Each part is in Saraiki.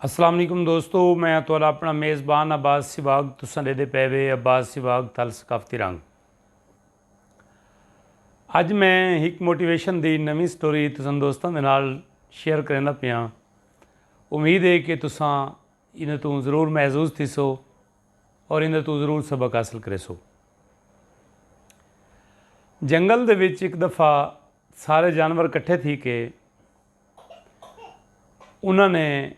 السلام علیکم دوستو میں تھوڑا اپنا میزبان عباس سواگ تساں دے دے پے وے عباس سواگ تھل ثقافتی رنگ اج میں ایک موٹیویشن دی نویں سٹوری تساں دوستاں دے نال شیئر کریندا پیا امید ہے کہ تساں ان تو ضرور محظوظ تھی سو اور ان تو ضرور سبق حاصل کرے سو جنگل دے وچ ایک دفعہ سارے جانور کٹھے تھی کے انہاں نے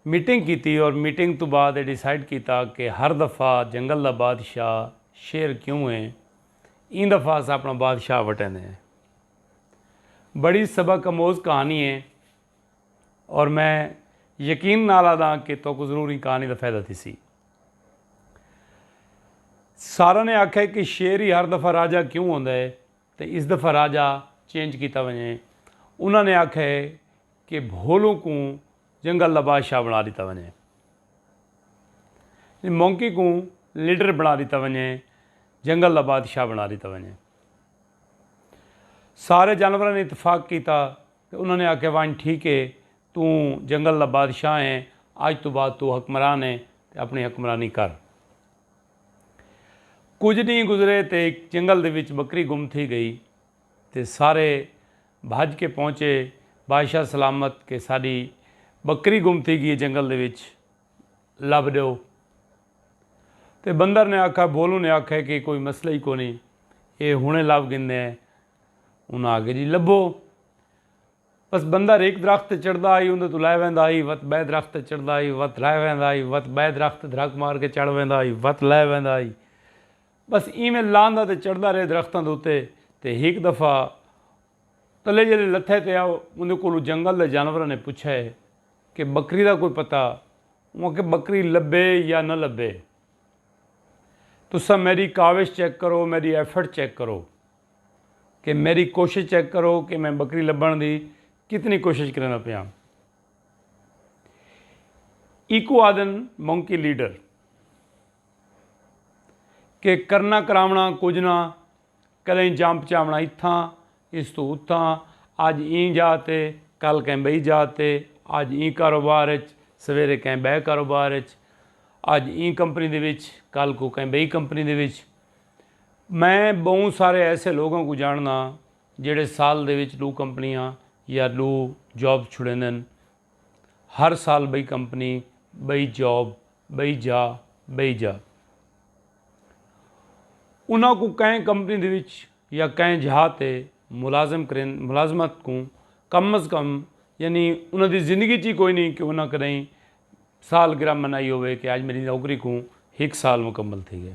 میٹنگ کیتی اور میٹنگ توں بعد اے ڈیسائیڈ کیتا کہ ہر دفعہ جنگل دا بادشاہ شیر کیوں ہے ایں دفعہ اساں اپنا بادشاہ وٹیندے ہیں بڑی سبق اموز کہانی ہے اور میں یقین نال آدھاں کہ توکو ضرور ایں کہانی دا فائدہ تھیسی سارا نے آکھا کہ شیر ہی ہر دفعہ راجہ کیوں ہوندا ہے تے اس دا فراجہ چینج کیتا ونجے۔ انہاں نے آکھیا ہے کہ بھولوں کوں جنگل دا بادشاہ بنڑا ڈیتا ونجے۔ مونکی کوں لیڈر بنڑا ڈیتا ونجے۔ جنگل دا بادشاہ بنڑا ڈیتا ونجے۔ سارے جانوراں نے اتفاق کیتا تے انہاں نے آکھیا ونج ٹھیک ہے توں جنگل دا بادشاہ ہیں۔ اج توں بعد توں حکمران ہیں تے اپنڑی حکمرانی کر۔ کجھ ڈینہہ گزرے تے ہک جنگل دے وچ بکری گم تھی گئی تے سارے بھج کے پہنچے بادشاہ سلامت کہ ساڈی بکری گم تھی گی ہے جنگل دے وچ لبھ ڈیو تے بندر نے آکھا بھولوں نے آکھا کہ کوئی مسئلہ ہی کونی اے ہنے لبھ گھندے ہیں انہاں آکھے جی لبھو پس بندر ہک درخت تے چڑھدا ہئی اوندے توں لہہ ویندا ہئی وت بئے درخت تے چڑھدا ہئی وت لہہ ویندا ہئی وت بئے درخت تے دھرک مار کے چڑھ ویندا ہئی وت لہہ ویندا ہئی بس ایویں لہندا تے چڑھدا رہے درختاں دے اتے تے ہک دفعہ تلے جلے لتھے تے اوندے کولوں جنگل دے جانوراں نے پچھے کہ بکری دا کوئی پتہ اوں آکھے بکری لبھے یا نہ لبھے تساں میڈی کاوش چیک کرو میڈی ایفرٹ چیک کرو۔ کہ میڈی کوشش چیک کرو کہ میں بکری لبھن دی کتنی کوشش کریندا پیاں۔ ایکوں آدھن مونکی لیڈر۔ کہ کرنا کراونا کجھ نہ کدیں جاں پچاونا اتھاں اس توں اتھاں اج ایں جاہ تے کل کہیں بئی جاہ تے اج ایں کاروبار اچ سویرے کہیں بئے کاروبار اچ اج ایں کمپنی دے وچ کل کوں کہیں بئی کمپنی دے وچ میں ٻہوں سارے ایسے لوگاں کوں جانڑداں جیڑھے سال دے وچ ݙو کمپنیاں یا ݙو جابز چھڑیندن۔ ہر سال ٻئی کمپنی، ٻئی جاب، ٻئی جا، ٻئی جا۔ انہاں کوں کہیں کمپنی دے وچ یا کہیں جھا تے ملازم کرین ملازمت کوں کم از کم یعنی انہاں دی زندگی چ ہی کوئی نی کہ انہاں کݙاہیں سالگرہ منائی ہووے کہ اڄ میݙی نوکری کوں ہک سال مکمل تھی ڳئے۔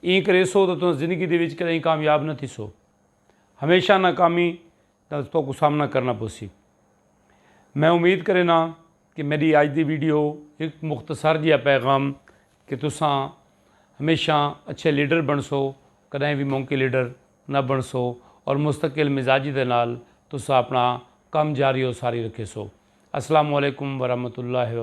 ایں کریسو تاں تساں زندگی دے وچ کدئیں کامیاب نہ تھیسو۔ ہمیشہ ناکامی نال تہاکوں سامنا کرݨا پوسی۔ میں امید کرینداں کہ میݙی اڄ دی ویڈیو ہک مختصر جیہا پیغام کہ تساں ہمیشہ اچھے لیڈر بݨسو، کݙاہیں وی مونکی لیڈر نہ بݨسو اور مستقل مزاجی دے نال تساں اپݨا کم جاری اور ساری رکھیسو۔ السلام علیکم ورحمۃ اللہ۔